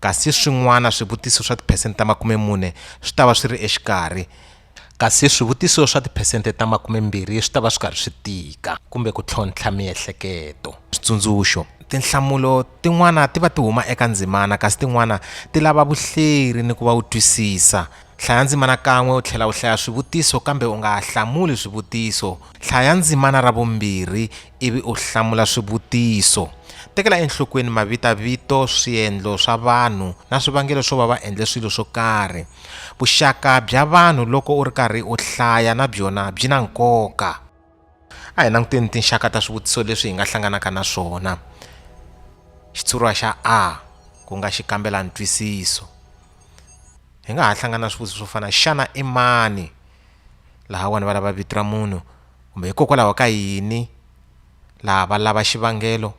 Kasi swin'wana swivutiso swa tiphesente ta makume-mune swi ta va swi ri exikarhi. Kasi swivutiso swa tiphesente ta makume-mbirhi swi ta va swi karhi swi tika kumbe ku tlhontlha miehleketo. Switsundzuxo, Tinhlamulo tin'wana ti va ti huma eka ndzimana kasi tin'wana ti lava vuhleri ni ku va u twisisa. Hlaya ndzimana kan'we u tlhela u hlaya swivutiso kambe u nga hlamuli swivutiso. Hlaya ndzimana ra vumbirhi ivi u hlamula swivutiso tekela enhlokweni mavitavito swiendlo swa vanhu na swivangelo swo va va endle swilo swo karhi vuxaka bya vanhu loko u ri karhi u hlaya na byona byi na nkoka a hi languteni tinxaka ta swivutiso leswi hi nga hlanganaka na swona xitshuriwa xa a ku nga xi kambela ntwisiso hi nga ha hlangana swivutiso swo fana xana i mani laha wani va lava vito ra munhu kumbe hikokwalaho ka yini laha va lava xivangelo,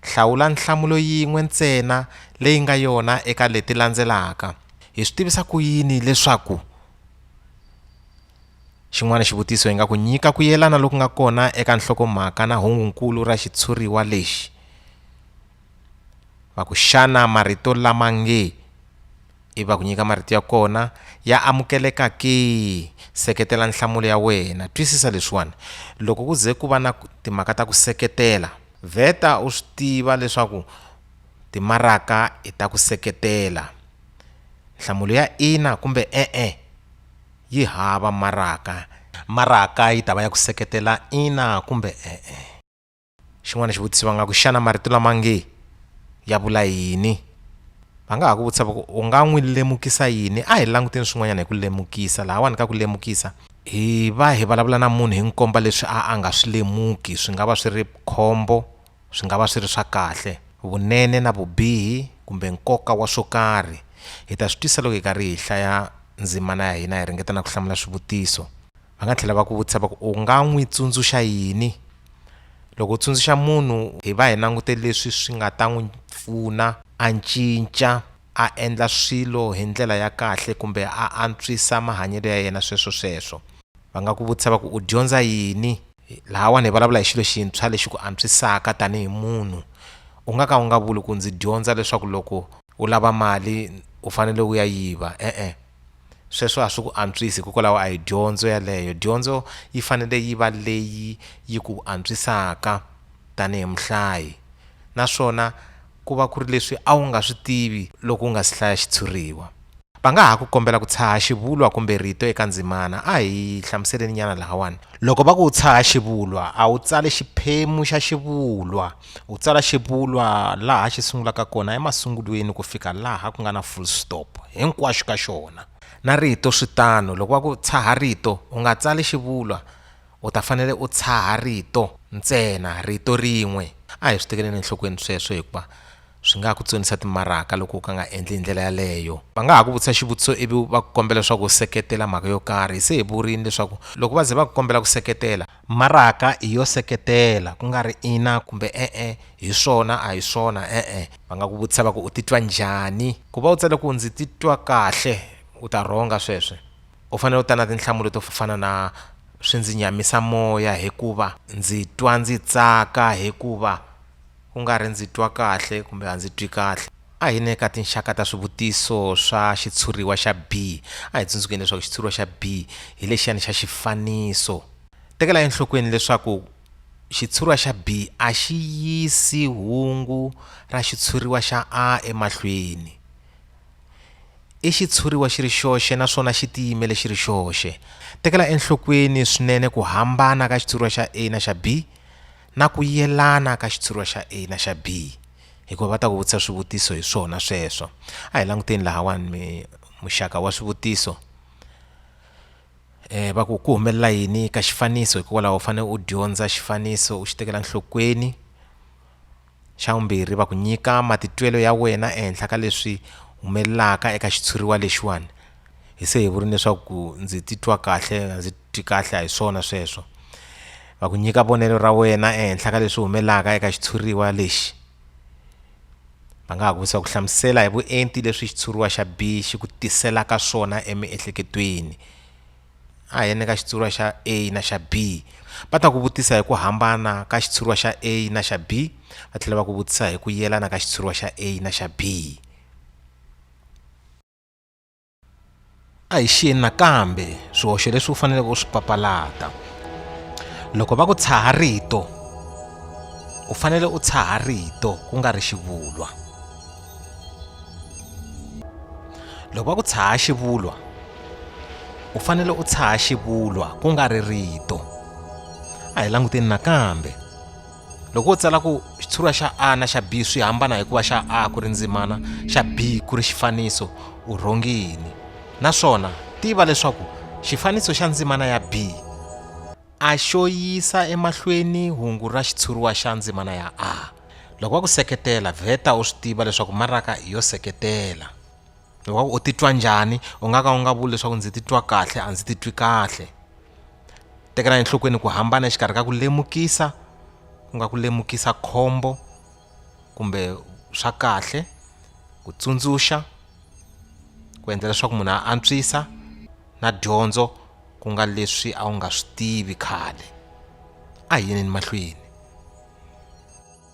hlawula nhlamulo yin'we ntsena leyi nga yona eka leti landzelaka. Hi swi tivisa ku yini leswaku xin'wana xivutiso hi nga ku nyika ku yelana loku nga kona eka nhlokomhaka na hungu-nkulu ra xitshuriwa lexi? va ku xana marito lama nge i va ku nyika marito ya kona ya amukeleka ke seketela nhlamulo ya wena twisisa leswiwani loko ku ze ku va na timhaka ta ku seketela vheta u swi tiva leswaku timaraka i ta ku seketela nhlamulo ya ina kumbe e-e yi hava maraka maraka yi ta va ya ku seketela ina kumbe e-e. xin'wana xivutiso va nga ku xana marito lama nge ya vula yini va nga ha ku vutisa va ku u nga n'wi lemukisa yini a hi languteni swin'wanyana hi ku lemukisa lahawani ka ku lemukisa hi va hi vulavula na munhu hi n'wi komba leswi a a nga swi lemuki swi nga va swi ri khombo swi nga va swi ri swa kahle vunene na vubihi kumbe nkoka wa swo karhi hi ta swi twisa loko hi karhi hi hlaya ndzimana ya hina hi ringeta na ku hlamula swivutiso va nga tlhela va ku vutisa va ku u nga n'wi tsundzuxa yini loko u tsundzuxa munhu hi va hi langute leswi swi nga ta n'wi pfuna a cinca a endla swilo hi ndlela ya kahle kumbe a antswisa mahanyelo ya yena sweswo sweswo va nga ku vutisa va ku u dyondza yini lahawani hi vulavula hi xilo xintshwa lexi ku antswisaka tanihi munhu u nga ka u nga vuli ku ndzi dyondza leswaku loko u lava mali u fanele u ya yiva e-e. Sweswo a swi ku antswisi hikokwalaho a hi dyondzo yaleyo dyondzo yi fanele yi va leyi yi ku antswisaka tanihi muhlayi naswona ku va ku ri leswi a wu nga swi tivi loko u nga si hlaya xitshuriwa. Va nga ha ku kombela ku tshaha xivulwa kumbe rito eka ndzimana. A hi hlamuseleninyana lahawani. Loko va ku u tshaha xivulwa, a wu tsali xiphemu xa xivulwa. U tsala xivulwa laha xi sungulaka kona emasungulweni ku fika laha ku nga na full stop hinkwaxo ka xona. Na rito swi tano. Loko va ku tshaha rito, u nga tsali xivulwa, u ta fanele u tshaha rito ntsena, rito rin'we. A hi swi tekeleni enhlokweni sweswo hikuva swi nga ha ku tsonisa timaraka loko u ka nga endli hi ndlela yaleyo. Va nga ha ku vutisa xivutiso ivi va ku kombela leswaku u seketela mhaka yo karhi. Hi se hi vurile leswaku loko va ze va ku kombela ku seketela, Maraka i yo seketela ku nga ri ina kumbe e-e, hi swona a hi swona e-e. Va nga ku vutisa va ku u titwa njhani? Ku va u tsale ku ndzi titwa kahle u ta rhonga sweswo. U fanele u ta na tinhlamulo to fana na swi ndzi nyamisa moya hikuva, ndzi twa ndzi tsaka hikuva, ku nga ri ndzi twa kahle kumbe a ndzi twi kahle. A hi ne ka tinxaka ta swivutiso swa xitshuriwa xa B. A hi tsundzukeni leswaku xitshuriwa xa B hi lexiyani xa xifaniso. Tekela enhlokweni leswaku xitshuriwa xa B a xi yisi hungu ra xitshuriwa xa A emahlweni. I xitshuriwa xi ri xoxe naswona xi tiyimele xi ri xoxe. Tekela enhlokweni swinene ku hambana ka xitshuriwa xa A na xa B. na ku yelana ka xitshuriwa xa A na xa B hikuva va ta ku vutisa swivutiso hi swona sweswo a hi languteni lahawani mi muxaka wa swivutiso um va ku ku humelela yini ka xifaniso hikokwalaho u fanele u dyondza xifaniso u xi tekela nhlokweni xa vumbirhi va ku nyika matitwelo ya wena ehenhla ka leswi humelelaka eka xitshuriwa lexiwani hi se hi vuri leswaku ndzi titwa kahle ndzi tikahla hi swona sweswo va ku nyika vonelo ra wena ehenhla ka leswi humelaka eka xitshuriwa lexi va nga ha ku vutisa ku hlamusela hi vuenti leswi xitshuriwa xa b xi ku tiselaka swona emiehleketweni a hi yene ka xitshuriwa xa a na xa b va ta ku vutisa hi ku hambana ka xitshuriwa xa a na xa b va tlhela va ku vutisa hi ku yelana ka xitshuriwa xa a na xa b a hi xiyeni nakambe swihoxo leswi u faneleke u swi papalata loko va ku tshaha rito u fanele u tshaha rito ku nga ri xivulwa loko va ku tshaha xivulwa u fanele u tshaha xivulwa ku nga ri rito a hi languteni nakambe loko u tsala ku xitshuriwa xa a na xa b swi hambana hikuva xa a ku ri ndzimana xa b ku ri xifaniso u rhongi yini naswona tiva leswaku xifaniso xa ndzimana ya b a xo yisa emahlweni hungu ra xitshuriwa xa ndzimana ya a loko va ku seketela vheta u swi tiva leswaku maraka i yo seketela loko u titwa njhani u nga ka u nga vuli leswaku ndzi titwa kahle a ndzi titwi kahle tekela enhlokweni ku hambana exikarhi ka ku lemukisa ku nga ku lemukisa khombo kumbe swa kahle ku tsundzuxa ku endla leswaku munhu a antswisa na dyondzo ku nga leswi a wu nga swi tivi khale a hi yeneni mahlweni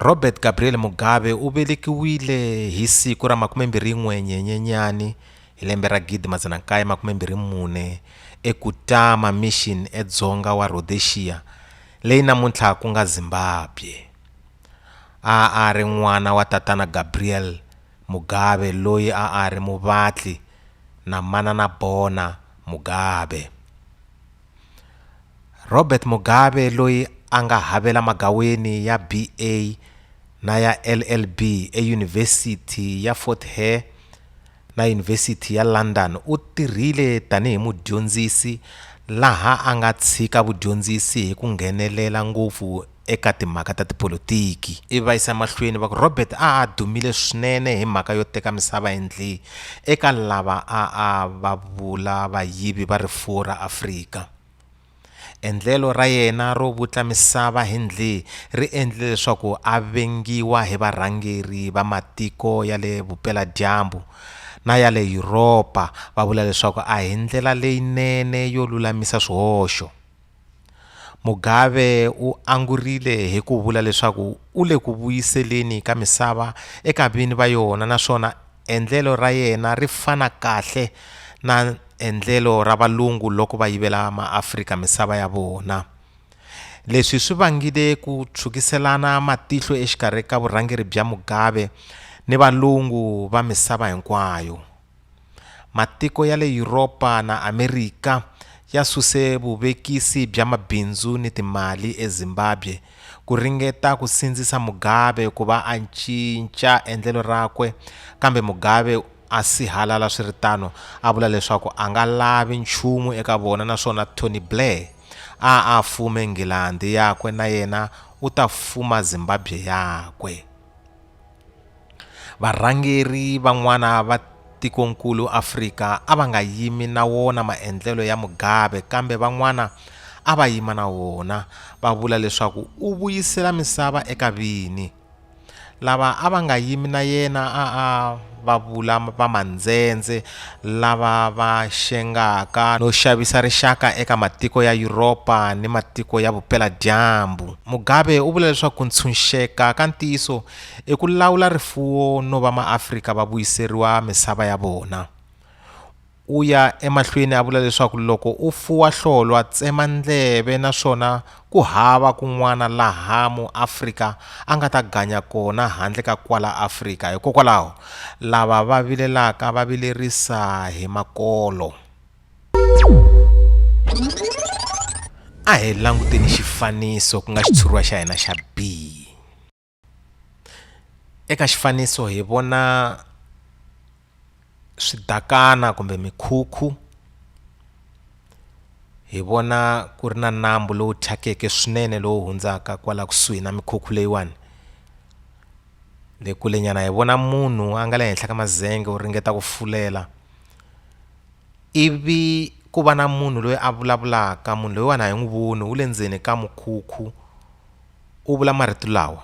Robert Gabriel Mugabe u velekiwile hi siku ra 21 Nyenyenyani hi lembe ra 1924 eKutama Mission edzonga wa Rhodexiya, leyi namuntlha ku nga Zimbabwe. A a ri n'wana wa Tatana Gabriel Mugabe loyi a a ri muvatli na Manana Bona Mugabe. Robert Mugabe loyi a nga havela magaweni ya BA na ya LLB eYunivhesiti ya Fort Hare na Yunivhesiti ya London u tirhile tanihi mudyondzisi laha a nga tshika vudyondzisi hi ku nghenelela ngopfu eka timhaka ta tipolotiki. Ivi va yisa emahlweni va ku, Robert a a dumile swinene hi mhaka yo teka misava hi ndli eka lava a a va vula vayivi va rifuwo ra Afrika. Endlelo ra yena ro vutla misava hi ndli ri endlile leswaku a vengiwa hi varhangeri va matiko ya le Vupela-dyambu na ya le Yuropa va vula leswaku a hi ndlela leyinene yo lulamisa swihoxo. Mugabe u angurile hi ku vula leswaku u le ku vuyiseleni ka misava eka vini va yona naswona endlelo ra yena ri fana kahle na endlelo ra valungu loko va yivela maAfrika misava ya vona. Leswi swi vangile ku tshwukiselana matihlo exikarhi ka vurhangeri bya Mugabe ni valungu va misava hinkwayo. Matiko ya le Yuropa na Amerika ya suse vuvekisi bya mabindzu ni timali eZimbabwe ku ringeta ku sindzisa Mugabe ku va a cinca endlelo rakwe kambe Mugabe a sihalala swi ri tano a vula leswaku a nga lavi nchumu eka vona naswona Tony Blair a a fume Nghilandhi yakwe na yena u ta fuma Zimbabwe yakwe. Varhangeri van'wana va tikonkulu Afrika a va nga yimi na wona maendlelo ya Mugabe kambe van'wana a va yima na wona, va vula leswaku u vuyisela misava eka vini. Lava a va nga yimi na yena a a va vula vamandzendze lava va xengaka no xavisa rixaka eka matiko ya Yuropa ni matiko ya Vupela-dyambu. Mugabe u vula leswaku ku ntshunxeka ka ntiyiso i ku lawula rifuwo no va maAfrika va vuyiseriwa misava ya vona. U ya emahlweni a vula leswaku loko u fuwa hlolwa, tsema ndleve naswona Ku hava kun'wana laha muAfrika a nga ta ganya kona handle ka kwala Afrika. Hikokwalaho, lava va vilelaka va vilerisa hi makolo. A hi languteni xifaniso ku nga xitshuriwa xa hina xa B. eka xifaniso hi vona swidakana kumbe mikhukhu hi vona ku ri na nambu lowu thyakeke swinene lowu hundzaka kwala kusuhi na mikhukhu leyiwani le kule nyana hi vona munhu a nga le henhla ka mazenge u ringeta ku fulela ivi ku va na munhu loyi a vulavulaka munhu loyiwani a hi n'wi voni wu le ndzeni ka mukhukhu. u vula marito lawa,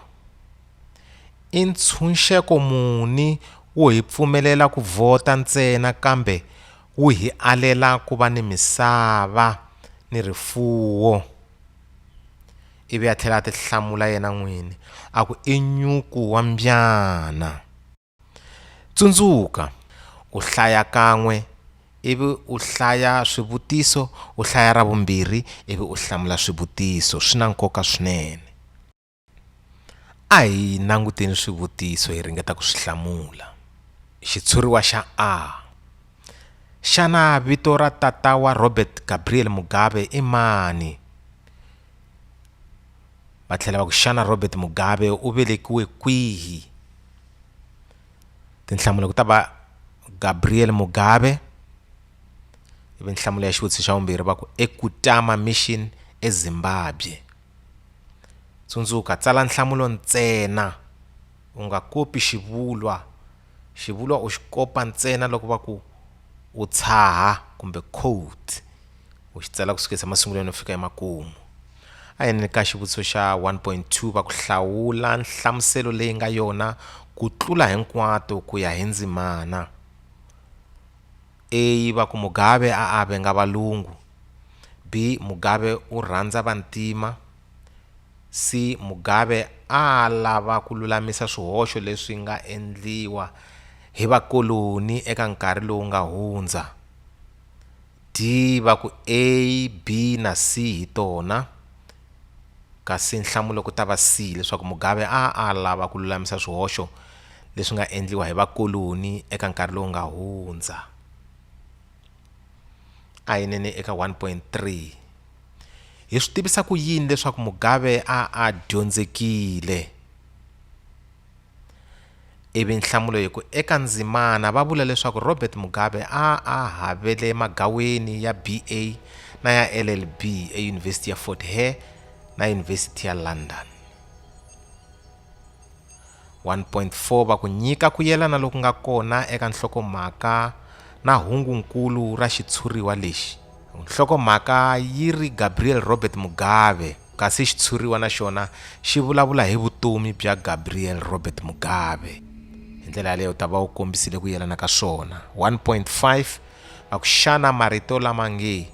I ntshunxeko muni wo hi pfumelela ku vhota ntsena kambe wu hi alela ku va ni misava ni rifuwo? Ivi a tlhela a tihlamula yena n'wini a ku, I nyuku wa mbyana. Tsundzuka, u hlaya kan'we ivi u hlaya swivutiso u hlaya ra vumbirhi ivi u hlamula swivutiso swi na nkoka swinene a hi languteni swivutiso hi ringeta ku swi hlamula xitshuriwa xa a xana vito ra tata wa Robert Gabriel Mugabe i mani va tlhela va ku xana robert mugabe u velekiwe kwihi tinhlamulo ku ta va gabriel mugabe ivi nhlamulo ya xivutiso xa vumbirhi va ku ekutama mission ezimbabwe tsundzuka tsala nhlamulo ntsena u nga kopi xivulwa Xivulwa u xi kopa ntsena loko va ku u tshaha kumbe quote u xi tsala ku sukisa emasungulweni u fika emakumu. A hi yeni ka xivutiso xa 1.2 va ku hlawula nhlamuselo leyi nga yona ku tlula hinkwato ku ya hi ndzimana. A va ku Mugabe a a venga valungu. B Mugabe u rhandza vantima. Se Mugabe a a lava ku lulamisa swihoxo leswi nga endliwa hi vakoloni eka nkarhi lowu nga hundza. D va ku A, B na C hi tona kasi nhlamulo ku ta va C leswaku Mugabe a a lava ku lulamisa swihoxo leswi nga endliwa hi vakoloni eka nkarhi lowu nga hundza. a hi nene eka 1.3 hi swi tivisa ku yini leswaku mugabe a a dyondzekile ivi nhlamulo hi ku eka ndzimana va vula leswaku robert mugabe a a havele magaweni ya ba na ya llb eyunivhesiti ya fort hare na yunivhesiti ya london 1.4 va ku nyika ku yelana loku nga kona eka nhlokomhaka na hungu-nkulu ra xitshuriwa lexi. Nhlokomhaka yi ri Gabriel Robert Mugabe kasi xitshuriwa na xona xi vulavula hi vutomi bya Gabriel Robert Mugabe. Hi ndlela yaleyo u ta va u kombisile ku yelana ka swona. 1.5 va ku xana marito lama nge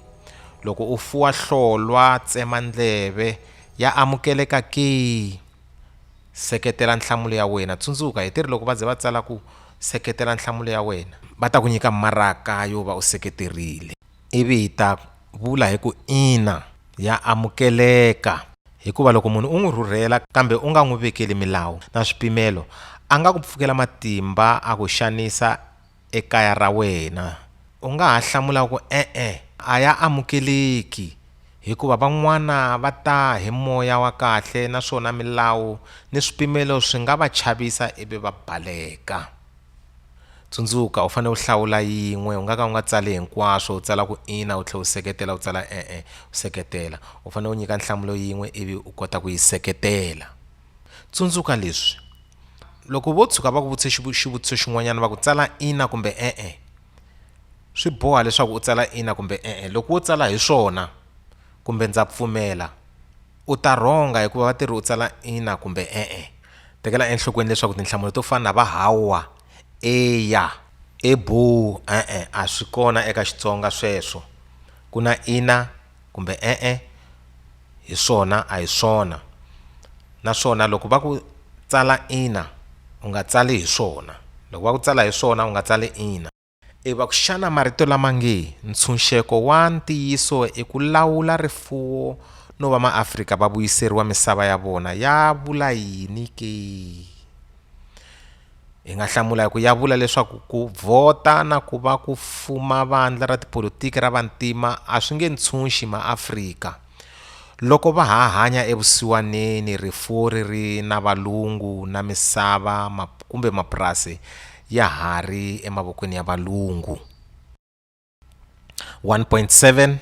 loko u fuwa hlolwa tsema ndleve ya amukeleka ke? Seketela nhlamulo ya wena. Tsundzuka, hi teri loko va ze va tsala ku, Seketela nhlamulo ya wena. Va ta ku nyika maraka yo va u seketerile. Ivi hi ta vula hi ku, Ina, ya amukeleka. Hikuva loko munhu u n'wi rhurhela kambe u nga n'wi vekeli milawu na swipimelo, a nga ku pfukela matimba a ku xanisa ekaya ra wena? U nga ha hlamula ku, E-e, a ya amukeleki, hikuva van'wana va ta hi moya wa kahle naswona milawu ni swipimelo swi nga va chavisa ivi va baleka. Tsundzuka, u fanele u hlawula yin'we. U nga ka u nga tsali hinkwaswo, u tsala ku ina u tlhela u seketela, u tsala e-e u seketela. U fanele u nyika nhlamulo yin'we ivi u kota ku yi seketela. Tsundzuka leswi, Loko vo tshuka va ku vutise xivutiso xin'wanyana va ku tsala ina kumbe e-e, swi boha leswaku u tsala ina kumbe e-e. Loko wo tsala hi swona kumbe ndza pfumela, u ta rhonga hikuva va tirhi u tsala ina kumbe e-e. Tekela enhlokweni leswaku tinhlamulo to fana na va hawa, eya, eboo, e-e a swi kona eka Xitsonga sweswo. Ku na ina. kumbe e-e hi swona a hi swona naswona loko va ku tsala ina u nga tsali hi swona loko va ku tsala hi swona u nga tsali ina i va ku xana marito lama nge ntshunxeko wa ntiyiso i ku lawula rifuwo no va maafrika va vuyiseriwa misava ya vona ya vula yini ke hi nga hlamula hi ku ya vula leswaku ku vhota na ku va ku fuma vandla ra tipolotiki ra vantima a swi nge ntshunxi maafrika loko va ha hanya evusiwaneni rifuwo ri ri na valungu na misava kumbe mapurasi ya ha ri emavokweni ya valungu 1.7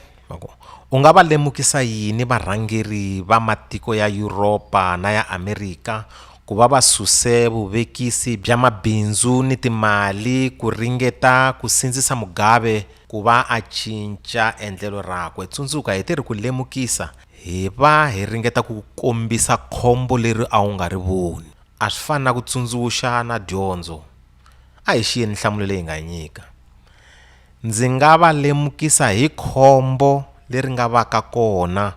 u nga va lemukisa yini varhangeri va matiko ya Yuropa na ya Amerika ku va va suse vuvekisi bya mabindzu ni timali ku ringeta ku sindzisa Mugabe ku va a cinca endlelo rakwe tsundzuka hi tirhi ku lemukisa hi va hi ringeta ku kombisa khombo leri a wu nga ri voni a swi fani na ku tsundzuxa na dyondzo A hi xiyeni nhlamulo leyi nga nyika. Ndzi nga va lemukisa hi khombo leri nga va ka kona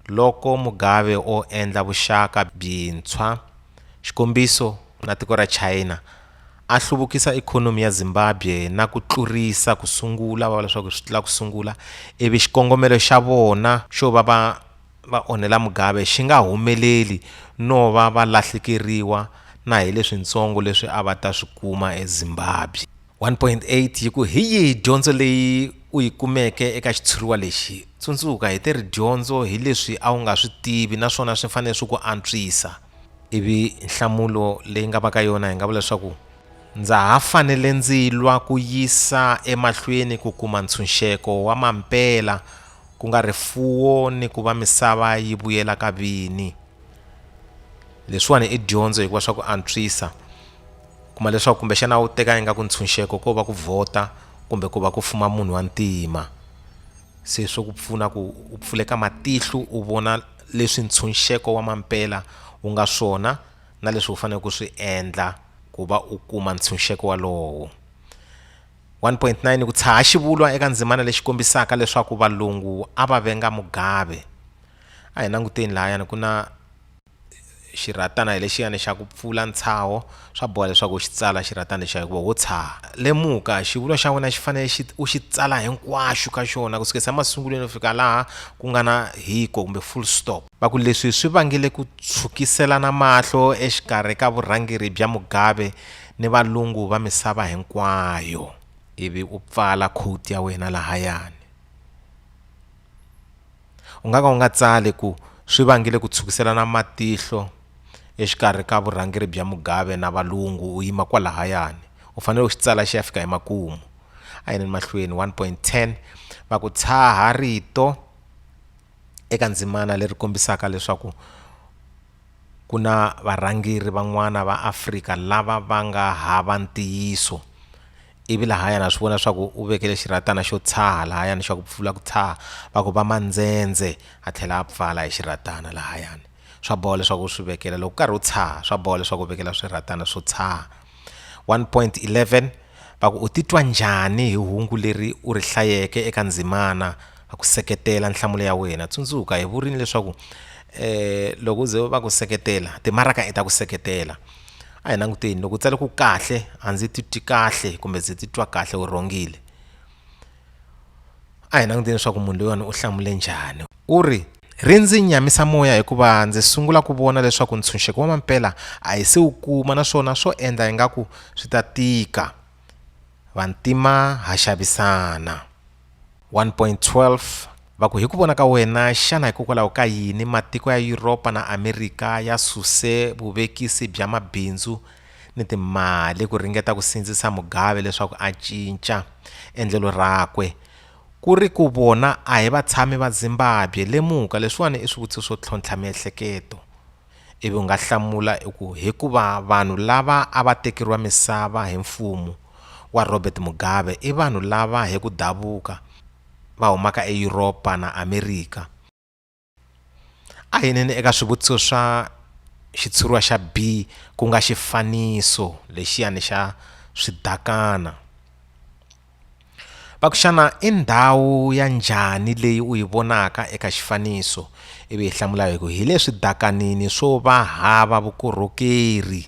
loko Mugabe o endla vuxaka byintshwa xikombiso na tiko ra China a hluvukisa ikhonomi ya Zimbabwe na ku tlurisa ku sungula va vula leswaku swi tlula ku sungula ivi xikongomelo xa vona xo va va va onhela Mugabe xi nga humeleli no va va lahlekeriwa na hi leswintsongo leswi a va ta swi kuma eZimbabwe. 1.8 yi ku, Hi yihi dyondzo leyi u yi kumeke eka xitshuriwa lexi? Tsundzuka, hi te ri dyondzo hi leswi a wu nga swi tivi naswona swi fanele swi ku antswisa. Ivi nhlamulo leyi nga va ka yona hi nga vula leswaku, Ndza ha fanele ndzi lwa ku yisa emahlweni ku kuma ntshunxeko wa mampela ku nga rifuwo ni ku va misava yi vuyela ka vini leswiwani i dyondzo hikuva swa ku antswisa kuma leswaku kumbexana wu teka ingaku ntshunxeko ko va ku vhota kumbe ku va ku fuma munhu wa ntima se swo ku pfuna ku u pfuleka matihlo u vona leswi ntshunxeko wa mampela wu nga swona na leswi u faneleke u swi endla ku va u kuma ntshunxeko walowo. 1.9 ku tshaha xivulwa eka ndzimana lexi kombisaka leswaku valungu a va venga mugabe a hi languteni lahayani ku na xirhatana hi lexiyani xa ku pfula ntshaho swa boha leswaku u xi tsala xirhatana lexiya hikuva wo tshaha lemuka xivulwa xa wena xi fanele xi u xi tsala hinkwaxu ka xona ku sukisa emasungulweni ku fika laha ku nga na hiko kumbe full stop Va ku leswi swi vangile ku tshwukiselana mahlo exikarhi ka vurhangeri bya Mugabe ni valungu va misava hinkwayo. Ivi u pfala quote ya wena lahayani. U nga ka u nga tsali ku swi vangile ku tshwukiselana matihlo exikarhi ka vurhangeri bya Mugabe na valungu u yima kwalahayani u fanele u xi tsala xi ya fika emakumu. A hi yeni mahlweni one point ten va ku tshaha rito. eka ndzimana leri kombisaka leswaku ku na varhangeri van'wana va Afrika lava va nga hava ntiyiso ivi lahaya na swi vona swa ku u vekele xirhatana xo tshaha lahayani xa ku pfula ku tshaha va ku va mandzendze a tlhela a pfala hi xirhatana lahayani. swa boha leswaku u swi vekela loko u karhi u tshaha swa boha leswaku u vekela swirhatana swo tshaha 1.11 va ku u titwa njhani hi hungu leri u ri hlayeke eka ndzimana va ku seketela nhlamulo ya wena tsundzuka hi vurini leswaku eh loko ze va ku seketela timaraka i ta ku seketela a hi languteni loko u tsale ku kahle a ndzi titwi kahle kumbe ndzi titwa kahle u rhongile a hi languteni leswaku munhu loyiwani u hlamule njhani u ri Ri ndzi nyamisa moya hikuva ndzi sungula ku vona leswaku ntshunxeko wa mampela a hi se wu kuma naswona swo endla ingaku swi ta tika. Vantima ha xavisana. 1.12 Va ku hi ku vona ka wena, xana hikokwalaho ka yini matiko ya Yuropa na Amerika ya suse vuvekisi bya mabindzu ni timali ku ringeta ku sindzisa Mugabe leswaku a cinca endlelo rakwe? Ku ri ku vona a hi vatshami va Zimbabwe, lemuka leswiwani i swivutiso swo tlhontlha miehleketo, ivi u nga hlamula u ku, Hikuva vanhu lava a va tekeriwa misava hi mfumo wa Robert Mugabe i vanhu lava hi ku davuka va humaka eYuropa na Amerika, A hi yineni eka swivutiso swa xitshuriwa xa B ku nga xifaniso lexiyani xa swidakana. Va ku xana i ndhawu ya njhani leyi u yi vonaka eka xifaniso ivi hi hlamula hi ku hi le swidakanini swo va hava vukorhokeri.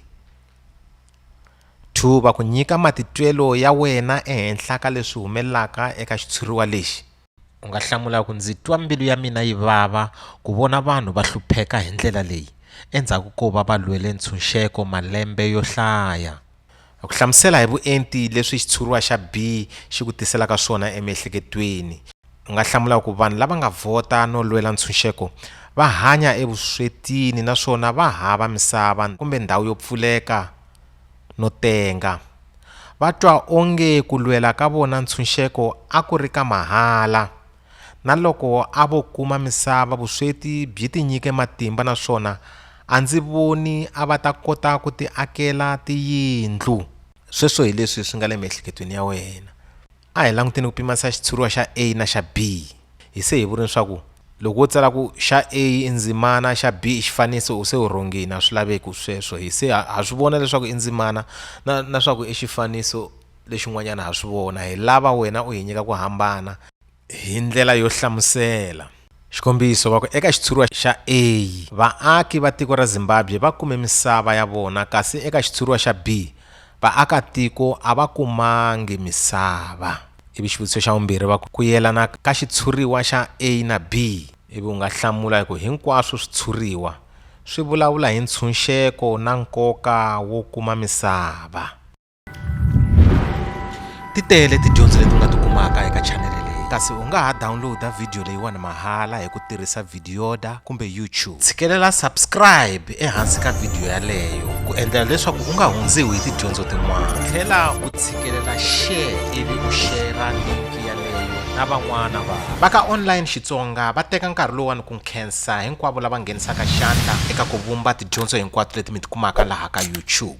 Two va ku nyika matitwelo ya wena ehenhla ka leswi humelelaka eka xitshuriwa lexi. u nga hlamula ku ndzi twa mbilu ya mina yi vava ku vona vanhu va hlupheka hi ndlela leyi endzhaku ko va va lwele ntshunxeko malembe yo hlaya ku hlamusela hi vuenti leswi xitshuriwa xa b xi ku tiselaka swona emiehleketweni u nga hlamula ku vanhu lava nga vhota no lwela ntshunxeko va hanya evuswetini naswona va hava misava kumbe ndhawu yo pfuleka no tenga, va twa onge ku lwela ka vona ntshunxeko a ku ri ka mahala. Na loko a vo kuma misava vusweti byi tinyike matimba naswona a ndzi voni a va ta kota ku tiakela tiyindlu. Sweswo hi leswi swi nga le miehleketweni ya wena. A hi languteni ku pimanisa xitshuriwa xa A na xa B. Hi se hi vule leswaku loko wo tsala ku xa A i ndzimana, xa B i xifaniso u se u rhongile, a swi laveki sweswo. Hi se ha swi vona leswaku i ndzimana na na swaku i xifaniso lexin'wanyana ha swi vona. Hi lava wena u hi nyika ku hambana hi ndlela yo hlamusela. Xikombiso, va ku eka xitshuriwa xa A, vaaki va tiko ra Zimbabwe va kume misava ya vona kasi eka xitshuriwa xa B, vaakatiko a va kumangi misava. Ivi xivutiso xa vumbirhi va ku, ku yelana ka xitshuriwa xa A na B, ivi u nga hlamula hi ku hinkwaswo switshuriwa swi vulavula hi ntshunxeko na nkoka wo kuma misava. ti tele tidyondzo leti u nga ti kumaka eka chanele leyi kasi u nga ha downloada vhidiyo leyiwani mahala hi ku tirhisa vhidiyoda kumbe youtube tshikelela subscribe ehansi ka vhidiyo yaleyo ku endlela leswaku u nga hundziwi hi tidyondzo tin'wana tlhela u tshikelela share ivi u shera linki yaleyo na van'wana va va ka online xitsonga va teka nkarhi lowani ku nkhensa hinkwavo lava nghenisaka xandla eka ku vumba tidyondzo hinkwato leti mi ti kumaka laha ka YouTube.